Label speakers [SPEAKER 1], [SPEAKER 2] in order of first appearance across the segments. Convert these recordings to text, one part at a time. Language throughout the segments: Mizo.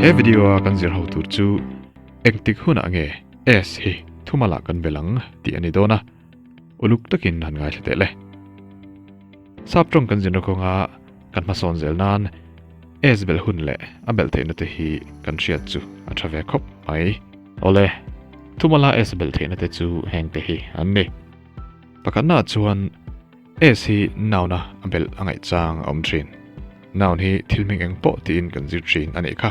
[SPEAKER 1] He video a kan zir ho tur chu engtik hunah nge S hi thumalah kan be lang tih a ni dawn a. uluk takin han ngaithla teh le. Sap tawng kan zinra kawnga kan hmasawn zel nan S belh hun leh a belh theihna te hi kan hriat chu a tha ve khawp mai. Awle, thumala S belh theihna te chu heng te hi an ni. Pakhatnaah chuan S hi noun-a a belh a ngaihchang a awm thin. Noun hi thil hming eng pawh tiin kan zir thin a nih kha.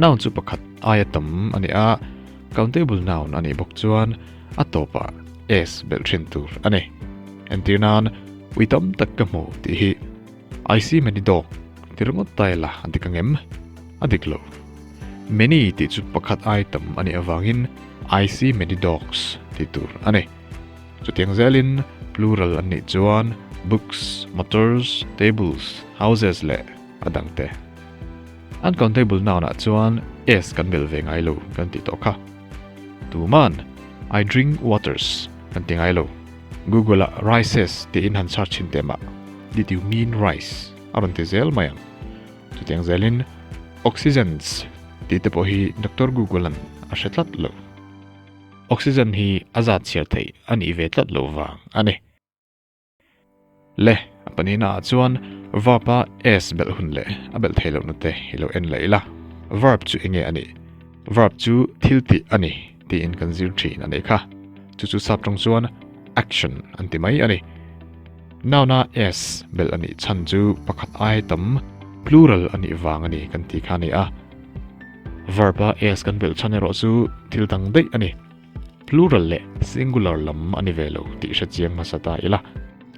[SPEAKER 1] Noun chu pakhat aia tam a ni a, countable noun a nih bawk chuan a tawpah s belh thin tur a ni. Entir nan ui tam tak ka hmu tih hi I see many dog ti ringawt ta ila a dik angem? A dik lo. Many tih chu pakhat ai tam a nih avangin I see many dogs ti tur a ni. Chutiang zelin plural an nih chuan books, motors, tables, houses leh. a dang te. Uncountable noun ah chuan s kan melh ve ngai lo kan tih tawh kha. Tuman I drink waters kan ti ngai lo. Google ah rices tiin han search thin teh mah. Did you mean rice? a rawn ti zel mai ang. Chutiang zel in oxygens tih te pawh hi Doctor Google an a hre tlat lo. Oxygen hi a zat chhiar theih a nih ve tlat lo vang a ni. Le, a pahnih na ah chuan verb a s belh hun leh a belh thei loh na te i lo en la ila, verb chu enge a nih? Verb chu thil tih a ni tiin kan zir thin a nei kha. Chu chu sap tang chuan action an ti mai a ni. Noun a s belh a nih chhan chu pakhat ai tam plural a nih vang a ni kan ti kha a ni a. Verb a s kan belh chhan erawh chu thil dang daih a ni. Plural leh singular lam a ni ve lo tih hre chiang hmasa ta ila.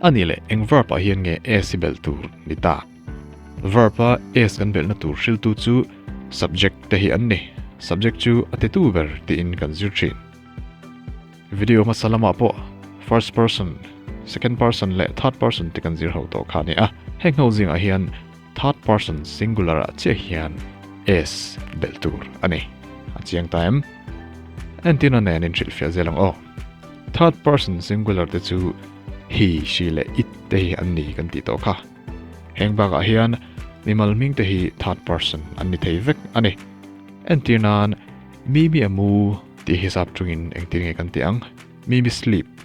[SPEAKER 1] A nih leh, eng verb ah hian nge s i belh tur ni ta? Verb a s kan belhna tur hriltu chu subject te hi an ni. Subject chu a titu ber tiin kan zir thin. Video hmasa lamah pawh first person, second person leh third person te kan zir ho tawh kha a ni a. Heng ho zingah hian Third person singular-ah chiah hian S belh tur a ni. A chiang ta em? Entirna nen in hrilhfiah zel ang aw. Third person singular te chu he, she leh it te hi an ni kan tih tawh kha. Heng bakah hian mimal hming te hi third person an ni thei vek a ni. Entir nan, Mimi a mu tih hi zap tungin engtir nge kan tih ang? Mimi sleep.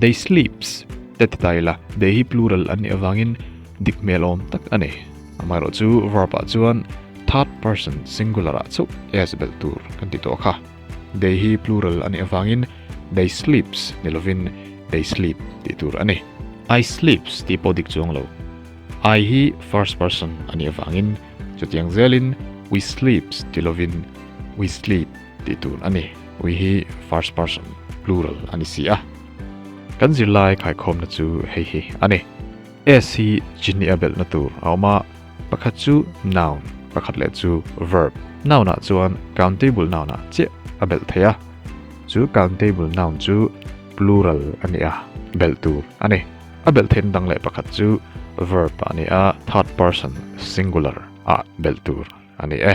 [SPEAKER 1] They sleeps te ti ta ila, they hi plural an nih avangin dik hmel awm tak a ni. Amaherawh chu verb ah chuan third person singular ah chauh e a belh tur kan ti tawh a kha. They hi plural a nih avangin they sleeps ni lovin they sleep tih tur a ni. I sleeps tih pawh dik chuang lo. I hi first person a nih avangin chutiang zelin we sleeps ti lovin we sleep Tih tûn a ni. We hi first person plural a ni si a. Kan zirlai khaikhawmna chu hei hi a ni. S hi chinni a belhna tûr a awm a, pakhat chu noun, pakhat leh chu verb. Noun-ah chuan countable noun-ah chiah a belh thei a. Chu countable noun chu plural a ni a, belh tûr a ni. A belh theihna dang leh pakhat chu verb a ni a, third person singular-ah belh tûr. a ni e.